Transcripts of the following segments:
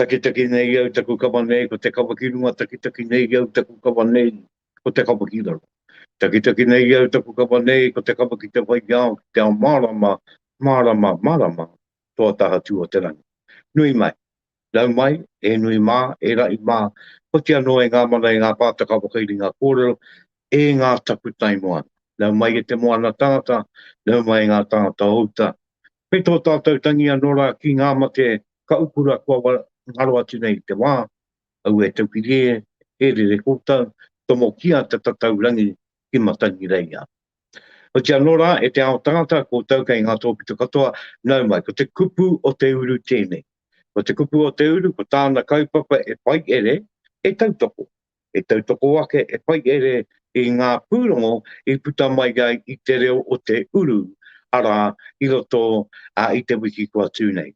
Takitaki nei au taku kawa nei ko te kawa ki runga Takitaki nei au taku kawa nei ko te kawa ki raro Takitaki nei au taku kawa nei ko te kawa ki te whai ao ki te ao marama, marama, marama toa taha tū o te rangi. Nui mai, rau mai, e nui mā, e raʻi mā, hoki anō e ngā mana, e ngā pātaka whakairinga kōrero, e ngā takutai moana. Rau mai e te moana tangata, rau mai e ngā tangata o uta. Kei tō tātou tangi anō rā ki ngā mate ka ukura kua ngaro atu nei te wā, aue taupiri e, e rere koutou, tomokia te tatau rangi ki Matangireia. Oti anō rā, e te ao tangata, koutou kei ngā tōpito katoa, nau mai, ko te kupu o te uru tēnei. Ko te kupu o te uru, ko tāna kaupapa e whai ere, e tautoko. E tautoko ake, e whai ere i ngā pūrongo i puta mai ai i te reo o te uru, arā, i roto i te wiki kua tū nei.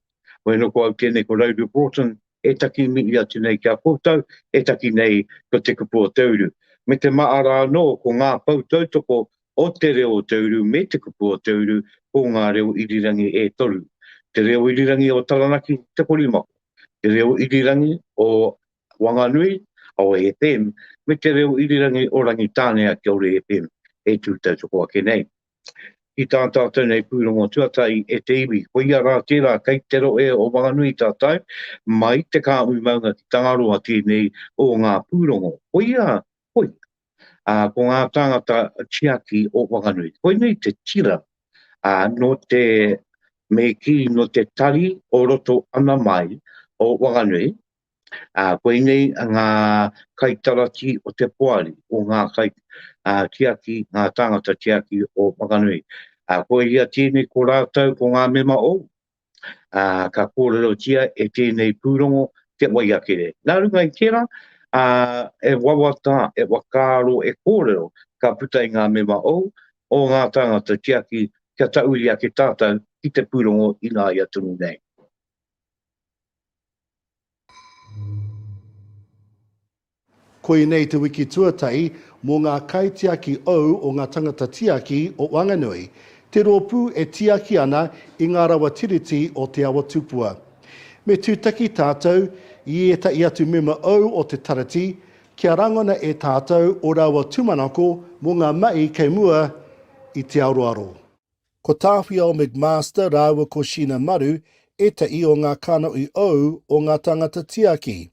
Hoi anō ko au tēnei, ko Rowley Broughton, e taki mihi atu nei ki a koutou, e taki nei ko te kupu o te uru. Me te maara anō ko ngā pou tautoko o te reo o te uru me te kupu o te uru ko ngā reo irirangi e toru, te reo irirangi o Taranaki Te Korimako, te reo irirangi o Wanganui, Aohe FM, me te reo irirangi o Rangitānea, Kia Ora FM, e tū tautoko ake nei. ki tā tātou nei pūrongo tuatahi e te iwi. Koia rā tērā kei te rohe o Whanganui tātou, mai te kāhui maunga ki Tangaroa tēnei o ngā pūrongo. Koia, koia, ā, ko ngā tāngata tiaki o Whanganui. Koinei te tira, ā, nō te, me kī, nō te tari o roto ana mai o Whanganui, Ā, koinei ngā kaitarati o te poari, o ngā kai, ā, tiaki, ngā tāngata tiaki o Whakanui. Ā, koia tēnei ko rātou, ko ngā mema ōu, ā, ka kōrerotia e tēnei pūrongo te waiakere. Nā runga i tērā, ā, e wawata, e whakaaro, e kōrero, ka puta i ngā mema ōu, o ngā tāngata tiaki, kia tauri ake tātou ki te pūrongo ināia tonu nei. Koinei te wiki tuatahi mō ngā kaitiaki ou o ngā tangata tiaki o Wanganui, te rōpū e tiaki ana i ngā rawa Tiriti o Te Awa Tupua. Me tūtaki tātou i ētahi atu mema ou o te Tarati kia rangona e tātou o rāua tūmanako mō ngā mahi kei mua i te aroaro. Ko Tāwhiao McMaster rāua ko Sheena Maru ētahi o ngā kanohi ou o ngā tāngata tiaki.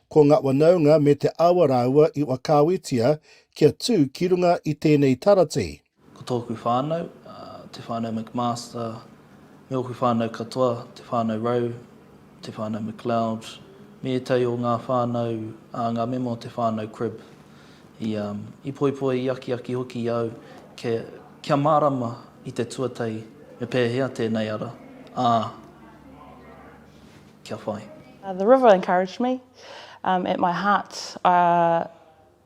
Ko ngā whanaunga me te awa rāua i whakaawetia kia tū ki runga i tēnei taratī. Ko tōku whānau, te whānau McMaster, me ōku whānau katoa, te whānau Rowe, Te Whānau McLeod, me ētahi o ngā whānau, ā, ngā mema o te whānau Cribb. I, i poipoia, i akiaki hoki i au kia, kia mārama i te tuatahi me pēhea tēnei ara, ā, kia whai. The river encouraged me at my heart, ā,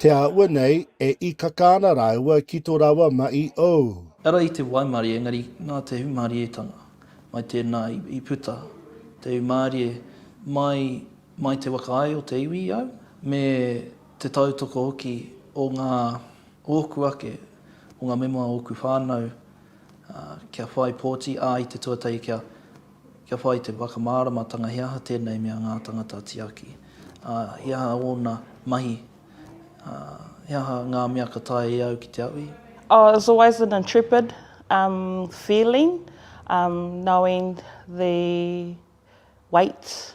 Te āhua nei, e ikaka ana rāua ki to rāua maʻi ou. Ara i te waimarie engari nā te hūmārietanga mai tēnā i puta te hūmārie mai mai te waka ai o te iwi i au me te tautoko hoki o ngā ōku ake o ngā mema o ōku whānau kia whai pōti ā i te tuatahi kia Kia whai te whakamāramatanga he aha tēnei mea ngā tāngata tiaki, ā, he aha ōna mahi, ā, he aha ngā mea ka taea e au ki te aui. Oh, it was always an intrepid um feeling um knowing the weight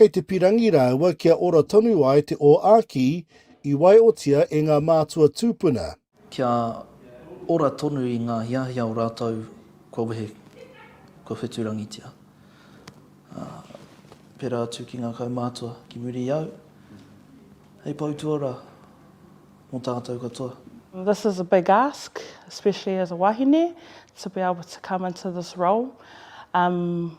Kei te pirangi rāua kia ora tonu ai te o Āki i waiotia e ngā mātua tūpuna. Kia ora tonu i ngā hiahia o rātou kua wehe, kua wheturangitia. Ā, pērā atu ki ngā kaumātua ki muri i au, hei pou tuarā mō tātou katoa. This is a big ask, especially as a wahine, to be able to come into this role. Umm.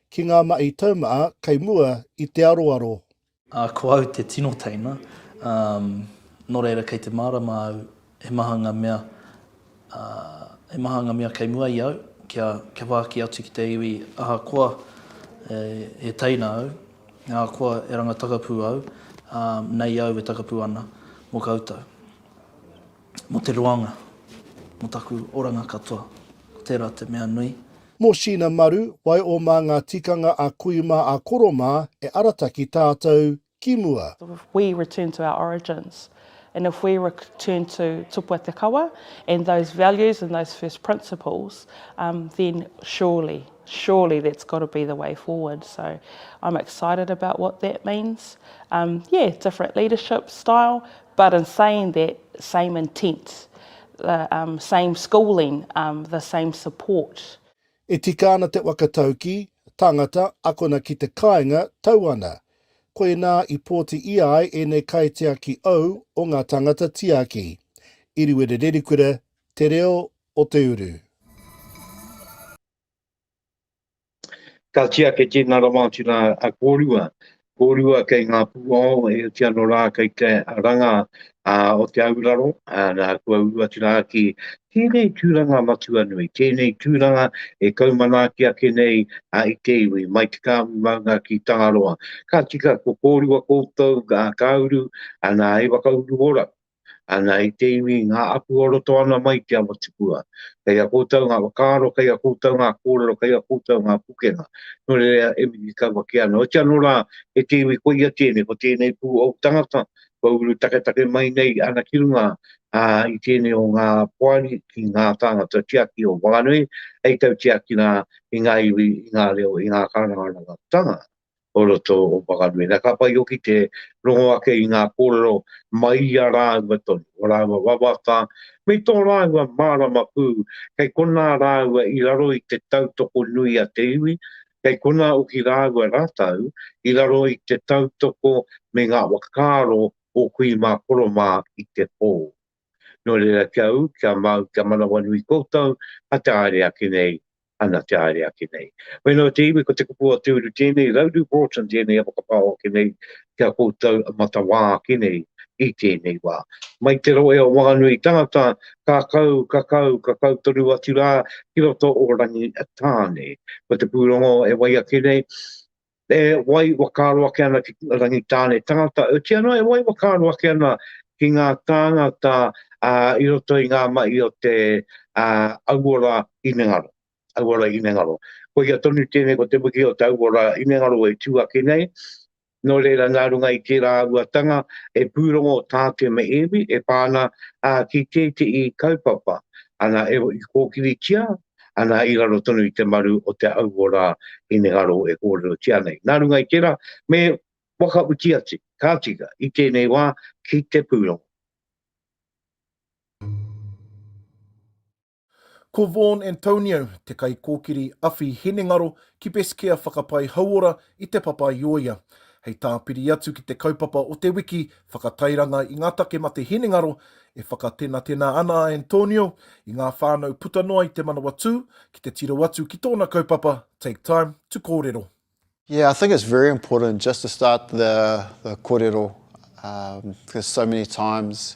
Ki ngā mahi taumaha kei mua i te aroaro. Ā, ko au te tino teina, ā, nō reira kei te mārama au, he maha ngā mea, ā, he maha ngā mea kei mua i au, kia, kia whāki atu ki te iwi, ahakoa e, e teina au, ahakoa e ranga takapū au, ā, nei au e takapū ana mō koutou. Mō te roanga, mō taku oranga katoa, ko tērā te mea nui. Mō Sheena Maru, wai o mā ngā tikanga a kui mā a koro mā e arataki tātou ki mua. If we return to our origins and if we return to Tupua Te Kawa and those values and those first principles then surely, surely that's got to be the way forward. So I'm excited about what that means. Yeah, different leadership style, But in saying that, same intent, the um, same schooling, um, the same support. E tika ana te whakataukī, tangata, akona ki te kāinga, tau ana. Koinā i pōti ia ai ēnei kaitiaki ou o ngā tangata tiaki. Iriwere Rerikura, Te Reo o te Uru. Ka tia kei tēnā rawa atu rā a kōrua, kōrua kei ngā pūao e oti ano rā kei te ranga o te auraro, nā kua uru atu rā ki tēnei tūranga matua nui, tēnei tūranga e kaumanaaki ake nei i te iwi, mai te kāhui maunga ki Tangaroa. Ka tika ko kōrua koutou ka uru, nā hei whakauru ora, Ana i te iwi i ngā aku o roto ana mai ki a Motipua. Kei a koutou ngā whakaaro, kei a koutou ngā kōrero, kei a koutou ngā pukenga. Nō reira e miki kau ake ana. Oiti anō rā, e te iwi koia tēnei, ko tēnei pū ōu tangata, kua uru taketake mai nei ana ki runga, ā, i tēnei o ngā poari ki ngā tāngata tiaki o waenganui, hei tautiaki rā i ngā iwi, i ngā reo, i ngā kārangarangatanga. o roto o Whanganui. Na, ka whai hoki te rongo ake i ngā kōrero mai i a rāua tonu, o rāua wawata, me tō rāua mārama pū, kei konā rāua i raro i te tautoko nui a te iwi, kei konā hoki rāua rātou i raro i te tautoko me ngā whakaaro o kui mā koro mā i te pō. Nō reira kia ū, kia mau, kia manawanui koutou, a te haere ake nei, ana te haere ake nei. Whenua te iwi, ko te kupu o te uru tēnei, Rauru Broughton tēnei a whakapao ake nei ki a koutou a matawā ake nei i tēnei wā. Mai te rohe o Whanganui tangata, ka kau, ka kau, ka kau tonu atu rā ki roto o Rangitāne. Ko te pūrongo e wai ake nei, e wai whakaaro ake ana ki te Rangitāne tangata, e tia noa e wai whakaaro ake ana ki ngā tāngata uh, i roto i ngā mahi o te uh, auora inengaro. Auora inengaro. Ko ia tonu tēnei ko te wiki o te auora inengaro e tū ake nei, no reira nā runga i tērā auatanga e pūrongo tāke me ēwi e pāna uh, ki tētehi kaupapa. Ana e kōkiritia, ana i raro tonu i te maru o te auo rā hinengaro e kōrerotia nei. Nā runga i tērā, me whakawhiti atu, ka tika, i tēnei wā, ki te pūrongo. Ko Vaughan Antonio, te kaikōkiri awhi hinengaro ki Best Care Whakapai Hauora i Te Papaioia. Hei tāpiri atu ki te kaupapa o te wiki whakatairanga i ngā take mate hinengaro, e whakatenatena ana a Antonio i ngā whānau puta noa i Te Manawatū ki te tiro atu ki tōna kaupapa Take Time to Kōrero. Yeah, I think it's very important just to start the the korero, um, because so many times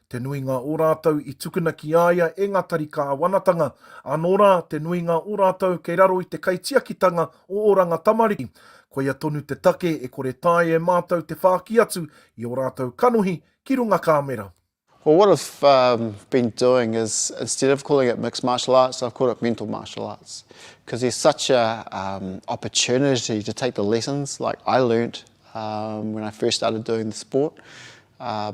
Te nuinga o rātou i tukuna ki a ia e ngā tari kāwanatanga, anō rā, te nuinga o rātou kei raro i te kaitiakitanga o Oranga Tamariki. Koia tonu te take e kore tae e mātou te whāki atu i ō rātou kanohi ki runga kāmera. Well what I've um been doing is instead of calling it mixed martial arts I've called it mental martial arts because there's such a um opportunity to take the lessons like I learnt um when I first started doing the sport uh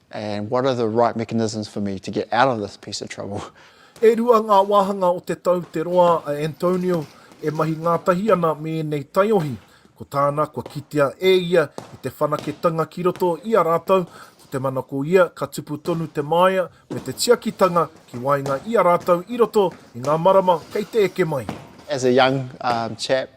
And what are the right mechanisms for me to get out of this piece of trouble? E rua ngā wāhanga o te tau te roa a Antonio e mahi ngātahi ana me ēnei taiohi. Ko tāna kua kitea e ia i te whanaketanga ki roto i a rātou, ko te mana ko ia ka tupu tonu te māia me te tiakitanga ki waenga i a rātou i roto i ngā marama kei te eke mai. As a young chap,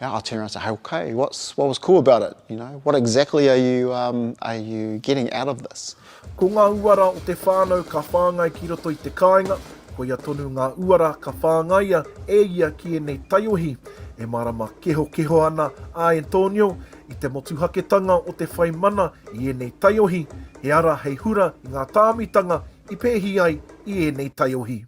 Yeah, I turned around and said, hey, okay, what's, what was cool about it? You know, what exactly are you, um, are you getting out of this? Ko ngā uara o te whānau ka whāngai ki roto i te kāinga, koia tonu ngā uara ka whāngaia e ia ki ēnei taiohi e mārama kehokeho ana a Antonio i te motuhaketanga o te whai mana i ēnei taiohi, he ara hei hura i ngā tāmitanga i pēhi ai i ēnei taiohi.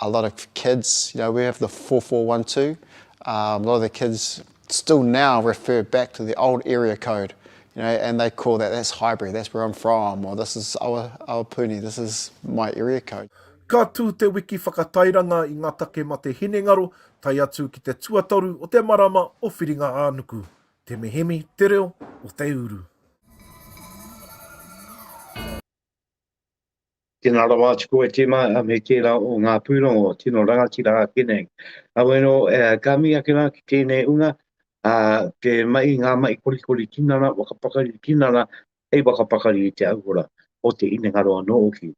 a lot of kids, you know, we have the four four one two, um, a lot of the kids still now refer back to the old area code, you know, and they call that, that's Highbury, that's where I'm from, or this is our, our puni, this is my area code. Ka tū te wiki whakatairanga i ngā take mate hinengaro, tae atu ki te tuatoru o te marama o Whiringa-ā-nuku. Te mihemi, te reo o te uru. Tēnā rawa atu koe Tim a, me tērā o ngā pūrongo tino rangatira ake nei. Awe no, ka mihi ake rā ki tēnei unga, a, te mahi, ngā mahi korikori tinana, whakapakari tinana, hei whakapakari i te auhora o te inengaro anō hoki.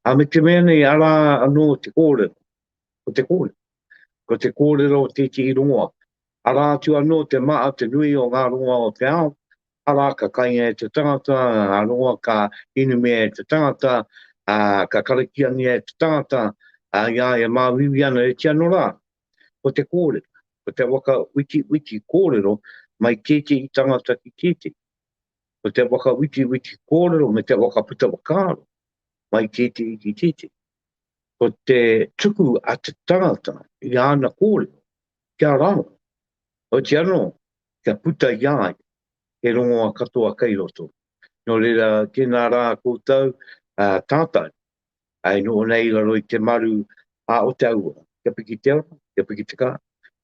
A me te mea nei, arā anō te kōrero, ko te kōrero, ko te kōrero o tētehi rongoa, arā atu anō te maha te nui o ngā rongoa o te ao, Arā, ka kainga e te tangata, ā, roa ka inumia e te tangata, ā, ka karakiangia e te tangata, ā, i a ia māuiui ana, e tia norā, ko te kōrero, ko te whakawhitiwhiti kōrero mai tētehi tangata ki tētehi, ko te whakawhitiwhiti kōrero me te whakaputa whakaaro mai tētehi ki tētehi, ko te tuku a te tangata i āna kōrero Kia raro, oiti anō, kia puta i a ia he rongoa katoa kei roto. Nō reira, tēnā rā koutou, ā, tātou, ā, e noho nei i raro i te maru, ā, o te aua, kia piki te ora, kia piki te kara,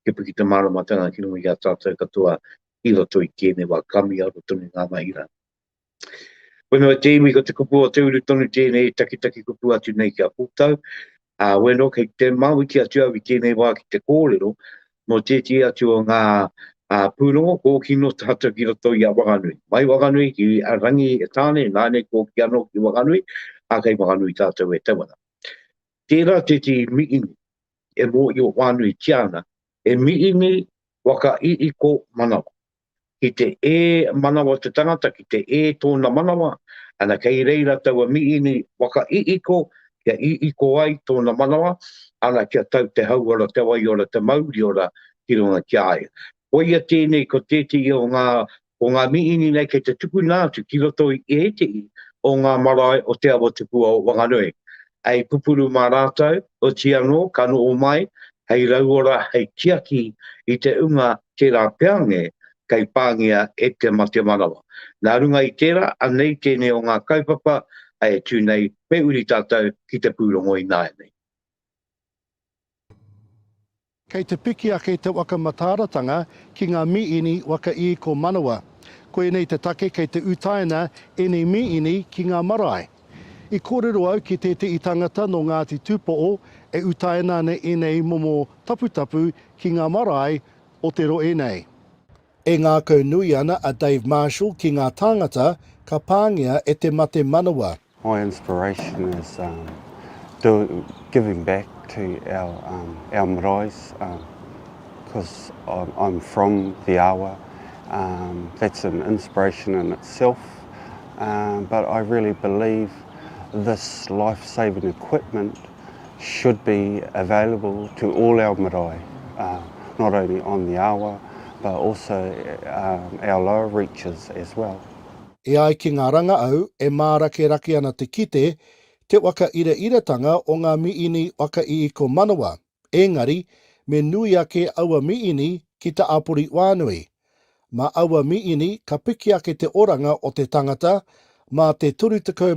kia piki te māramatanga ki runga i a tātou katoa i roto i tēnei wā, ka miaro tonu ngā mahi rā. Whenua te iwi ko te kupu o te uru tonu tēnei takitaki kupu atu nei ki a koutou. Ā, weno kei te mawiti atu au i tēnei wā ki te kōrero mō tētehi atu o ngā ā, pūrongo kōkino tātou ki roto i a Wanganui. Mai Wanganui ki a Rangi Tāne, nāne kōki anō ki Wanganui, ā, kei Wanganui tātou e tau ana. Tērā tētehi mīhini e mōhio whānuitia ana, he mīhini waka hihiko manawa. ki te ē manawa te tangata, ki te ē tōna manawa, ana kei reira taua mīini waka iiko, kia iiko ai tōna manawa, ana kia tau te hauora, te waiora, te mauriora ki runga ki a ia. Koia tēnei ko tētehi o ngā, o ngā mīini nei kei te tukuna atu ki roto i ētehi o ngā marae o Te Awatukuo o Wanganui. hei pupuru mā rātou, oti anō ka noho mai hei rauora hei tiaki i te unga tērā peange kei pāngia e te mate manawa. Nā runga i tērā, anei tēnei o ngā kaupapa e tū nei me uri tātou ki te pūrongo ināianei. Kei te piki ake te waka mataaratanga ki ngā mīini waka i ko manawa. Koinei te take kei te utaina ēnei mīini ki ngā marae. I kōrero au ki tēteʻi tangata nō Ngāti Tūpoʻo e utaina ana ēnei momo taputapu ki ngā marae o te roe nei. E ngākau nui ana a Dave Marshall ki ngā tāngata ka pāngia e te mate manawa. My inspiration is giving back to our maraes because I'm from the awa, that's an inspiration in itself but I really believe this life saving equipment should be available to all our marae, uh, not only on the awa, but also uh, our lower reaches as well. E ai ki ngā rangaau, e mārakerake ana te kite, te whakairaratanga o ngā miini whakaiiko manawa, engari, me nui ake aua miini ki te apori wānui. Mā aua miini ka piki ake te oranga o te tangata, mā te 35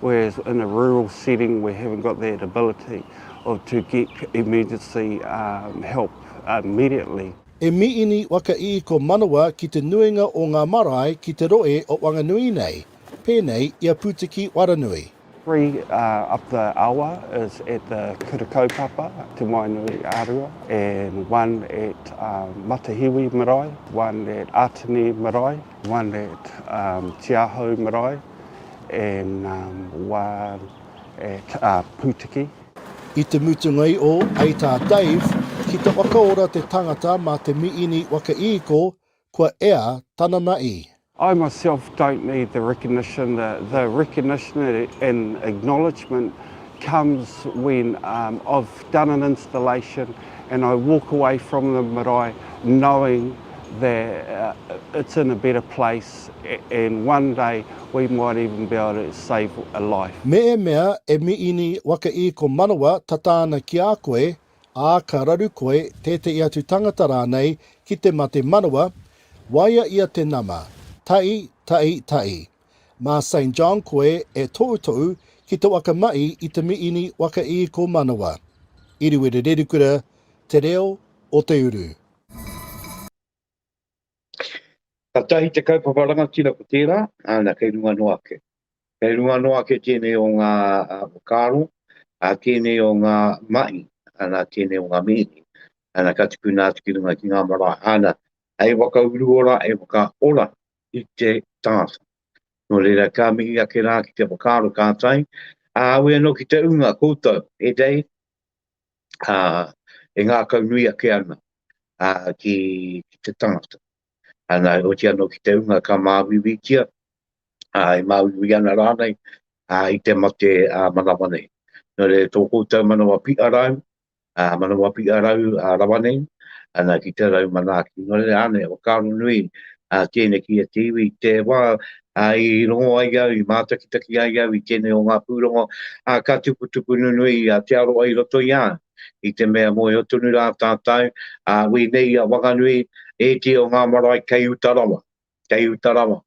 whereas in a rural setting we haven't got that ability of to get emergency um, help immediately. E miini waka i ko manawa ki te nuinga o ngā marae ki te roe o Wanganui nei, pēnei i a Putiki Waranui. Three uh, up the awa is at the Kura Kaupapa, Te Moenui Arua, and one at uh, Matahiwi Marae, one at Atene Marae, one that um, tiahou marae and um, one at uh, Putiki. I te mutunga i o ai tā Dave ki te whakaora te tangata mā te miini whakaīko kua ea tanana i. I myself don't need the recognition. The, the recognition and acknowledgement comes when um, I've done an installation and I walk away from the marae knowing that it's in a better place and one day we might even be able to save a life. Mēmea e Miini waka i ko manawa tata ana ki a koe, ā, ka raru koe, tētehi atu tangata rānei, ki te mate manawa, waia ia te nama, taʻi, taʻi, taʻi. Mā Saint John koe e toutou ki te waka mai i te miini waka i ko manawa. Iriwere Rerikura, Te Reo o te Uru. Katahi te kaupapa rangatira ko tērā, ana kei runga noa ake. Kei runga noa ake tēnei o ngā whakaaro, a tēnei o ngā mahi, ana tēnei o ngā mihi, ana ka tukuna atu ki runga ki ngā marae, ana hei waka uru ora, hei waka ora i te tangata. Nō reira, ka mihi ake rā ki te whakaaro kātai, ā, aue anō ki te ūnga koutou, he rei, ā, e ngākau nui ake ana, ā, ki te tangata. Ana, oti anō ki te ūnga ka māuiuitia, ā, e māuiui ana rānei, ā, i te mate ā-manawa nei. Nō reira, tō koutou manawa piʻa rāu, ā, manawa piʻa rau rawa nei, ana ki te rau manaaki. Nō reira, ānei a whakaaro nui a Tēne ki a Te Iwi, te wā i rongo ai au, i mātakitaki ai au i tēnei o ngā pūrongo, ā, ka tukutuku nunui a Te Aroha i roto i a au, i te mea mōhio tonu rā tātou, ā, wēnei i a Wanganui, ētehi o ngā marae kei uta rawa. kei uta rawa.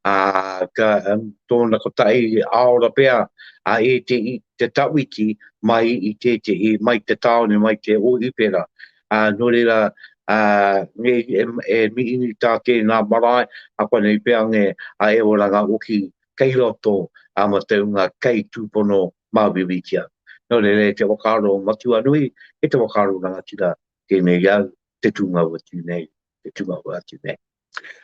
Ā, ka, um, tōna kotahi aora pea, a e te, te tawhiti mai i tētehi, mai te tāone, mai te Ōhipera. Ā, nō reira, ā, nge, e, e mihi tā tēnā marae, a kwanei pea nge, a e oranga hoki kei roto a mataunga kei tūpono māuiuitia. Nō reira, e te whakaaro matua nui, e te whakaaro rangatira, tēnei au, te tūngau atu nei, te tūngau atu nei.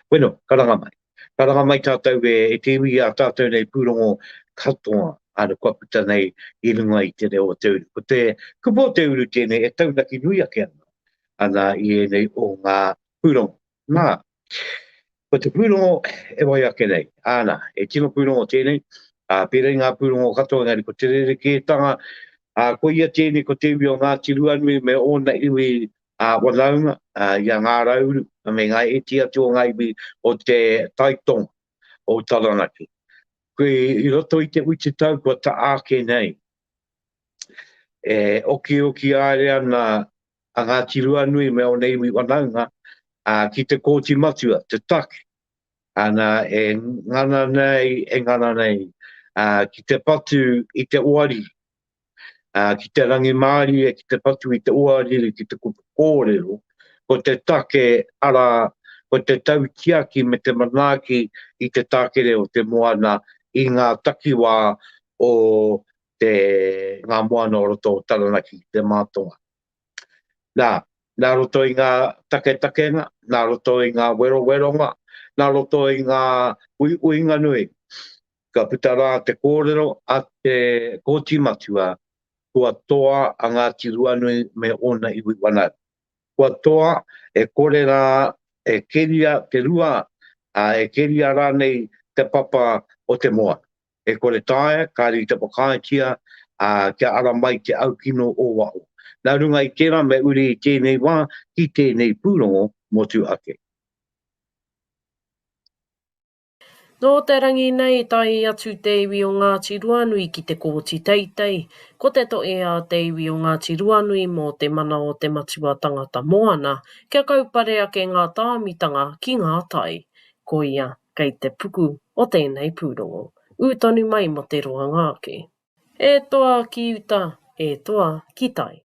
Bueno, karanga mai. Karanga mai tātou e te iwi i a tātou nei pūrongo katoa āna kua puta nei i runga i te reo o te uru. Ko te kupu o te uru tēnei e taunaki nui ake ana, ana i ēnei o ngā pūrongo. Nā, ko te pūrongo e wai ake nei, āna, e tino pūrongo tēnei, ā, pērā i ngā pūrongo katoa, engari ko te rerekētanga, ā, ko ia tēnei ko te iwi o Ngāti Ruanui me ōna iwi ā whanaunga, i a Ngā Rauru me ngā iti atu o ngā iwi o te tai tonga o Taranaki. I roto i te witi tau kua taa ake nei, e okioki aere ana a Ngāti Ruanui me ona iwi whanaunga ki te Kooti Matua, te take, ana e ngana nei, e ngana nei ki te patu i te oari ki te rangimārie, ki te whatu i te oariri ki te kupu kōrero, ko te take, arā, ko te tautiaki me te manaaki i te tākere o te moana i ngā takiwā o te, ngā moana o roto o Taranaki ki te mātonga. Nā, nā roto i ngā taketakenga, nā roto i ngā weroweronga, nā roto i ngā uiuinga nui, Ka puta rā te kōrero a te Kōti Matua kua toa a Ngāti Ruanui me ōna iwi whānau. Kua toa e kore rā e keria te rua, ā, e keria rānei te papa o te moana. E kore taea, kāre i te whakaaetia, ā, kia ara mai te aukino o waho. Nā runga i tērā me uri i tēnei wā ki tēnei pūrongo motu ake. Nō te rangi nei i tae atu te iwi o Ngāti Ruanui ki te Kōti Teitei, ko te toʻe a te iwi o Ngāti Ruanui mō te mana o te Matua Tangata Moana kia kaupare ake ngā tāmitanga ki ngā tai. Koia kei te puku o tēnei pūrongo. Ū tonu mai mō te roanga ake. E toa ki uta, e toa ki tai.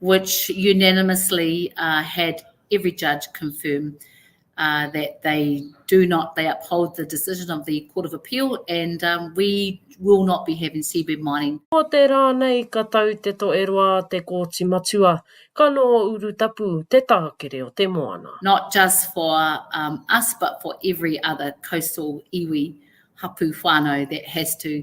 which unanimously uh, had every judge confirm uh, that they do not, they uphold the decision of the Court of Appeal and um, we will not be having seabed mining. Ko te rā nei ka tau te to e roa te kōti matua, ka nō uru tapu te tākere o te moana. Not just for um, us but for every other coastal iwi hapu whānau that has to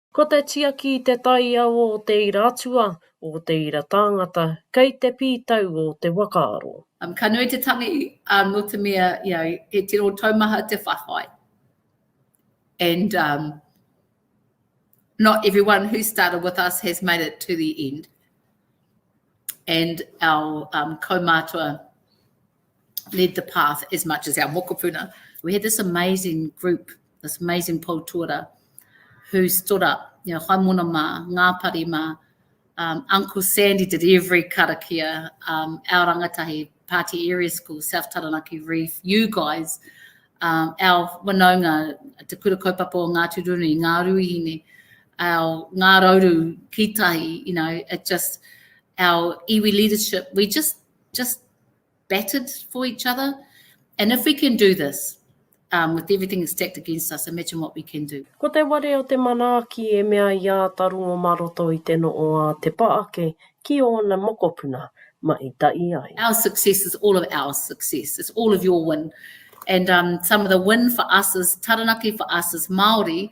Ko te tiaki i te taiao o te ira atua, o te ira tāngata, kei te pītau o te wakaaro. Ka nui te tangi nō te mea he tino taumaha te whawhai and not everyone who started with us has made it to the end and our kaumātua led the path as much as our mokopuna. We had this amazing group, this amazing poutuara, who stood up, you know, Haimona mā, Ngāpari mā, um, Uncle Sandy did every karakia, um, our rangatahi, Party Area School, South Taranaki Reef, you guys, um, our wanaunga, Te Kura Kaupapa o Ngāti Runi, Ngā Ruihine, our Ngā Rauru, Kitahi, you know, it just, our iwi leadership, we just just battered for each other. And if we can do this, um, with everything stacked against us, imagine what we can do. Ko te ware o te manaaki e mea i āta rongo mā roto i te noo a Te Paake ki ōna mokopuna, mai tahi ai. Our success is all of our success. It's all of your win. And um, some of the win for us is Taranaki for us is Māori.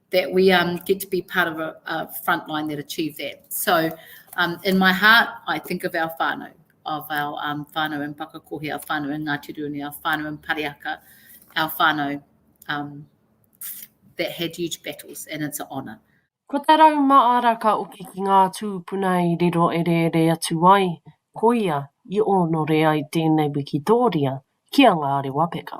that we get to be part of a frontline that achieve that. So in my heart, I think of our whānau, of our whānau in Pakakohe, our whānau in Ngāti Rūnui, our whānau in Pareaka, our whānau that had huge battles, and it's an honour. Ko te rau māra ka oki ki ngā tūpuna i riro ereere atu ai, koia i onore ai tēnei wikitōria ki a Ngāre Wapeka.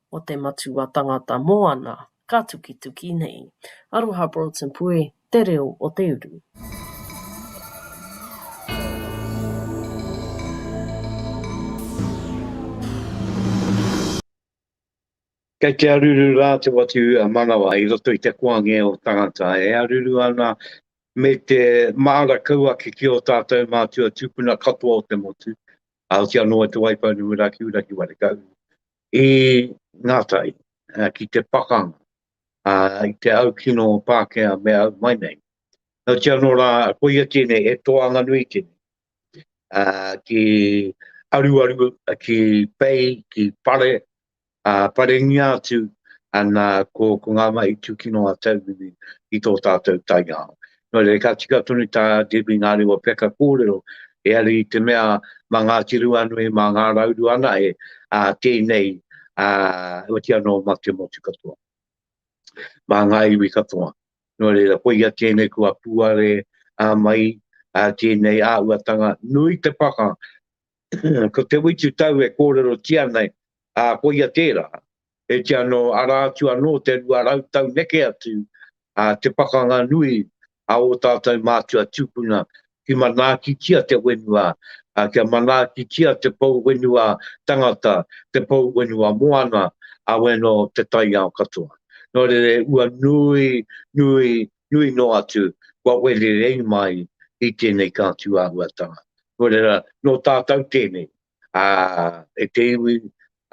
o te Matua Tangata Moana ka tukituki nei. Aroha Broughton Pue, Te Reo o te Uru. Kei te aruru rā te watu manawa i roto i te koange o tangata, e aruru ana me te maara kau ake ki ō tātou mātua tūpuna katoa o te motu, ā, hoki anō e Te Waipounamu Rakiura ki Warekau. i ngā tai, ki te pakanga, ā, i te au kino o Pākehā me au mai nei. Nō te anō rā, koia tēnei, he toanga nui tēnei, ā, ki aruaru, ki pei, ki pare, ā, parengia atu, ana, ko, ko ngā mahi tūkino a Tauiwi i tō tātou taiao. Nō reira, ka tika tonu tā Debbie ngā rewa peka kōrero, heari i te mea mā Ngāti Ruanui, mā Ngā Rauru anahe ā tēnei, ā, otiia nō mā te motu katoa, mā ngā iwi katoa. Nō reira, koia tēnei kua puare ā mai ā tēnei āhuatanga nui te paka Ko Te Witu Tau e kōrerotia nei, ā, koia tērā, e te anō, arā atu anō te rua rau tau neke atu, ā, te pakanga nui a ō tātou mātua tūpuna ki manaakitia te whenua, ā, kia manaakitia te pou whenua tangata, te pou whenua moana, ā, weno te taiao katoa. Nō reira e ua nui, nui, nui noa atu kua wererei mai i tēnei kātū āhuatanga. Nō reira, nō tātou tēnei, ā, e te iwi,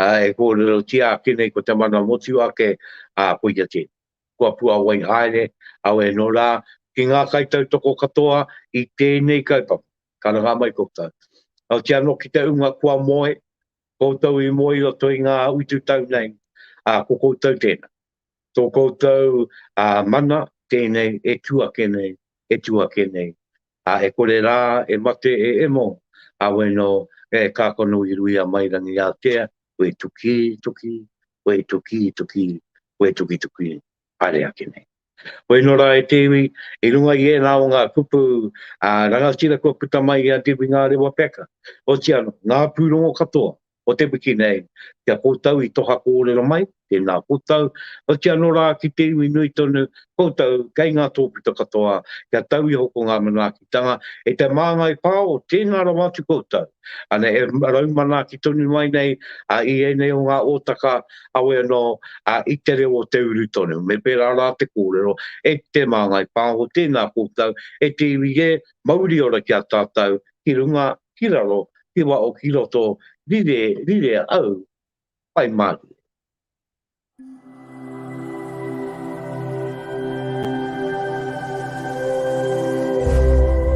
ā, e kōrerotia ake nei ko te mana motu ake, ā, koia tēnei. Kua puāwai haere, auē nō rā, ki ngā kaitautoko katoa i tēnei kaupapa, karangaa mai koutou. Aoti anō ki te ūnga kua moe, koutou i moe i roto i ngā utu tau nei, ā, ko koutou tēnā. Tō koutou mana tēnei e tū ake nei, e tū ake nei. Ā, e kore rā e mate e Emo, ā, wai nō, e kā kono i ruia mai rangi ātea, wē tukī, tukī, wē tukī, tukī, wē tukī, tukī, haere ake nei. Wai nō rā e te iwi, i runga i ēnā o ngā kupu, ā, rangatira kua puta mai i a Debbie Ngārewa Packer, otiano, ngā pūrongo katoa, o te wiki nei, ki a koutou i toha kōrero mai, tēnā koutou, hoki anō rā ki te iwi nui tonu, koutou kei ngā tōpito katoa, kia tau iho ko ngā manaakitanga, e te māngai pā o tēnā rawa atu koutou. Ana e raumanaaki tonu mai nei i ēnei o ngā ōtaka, awe anō i te reo o te uru tonu, me pērā rā te kōrero, e te māngai pā o tēnā koutou, e te iwi e, mauri ora ki a tātou, ki runga ki raro ki wao ki roto rire rire au pai marie.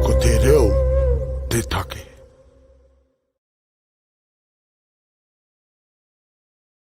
Ko te reo te take.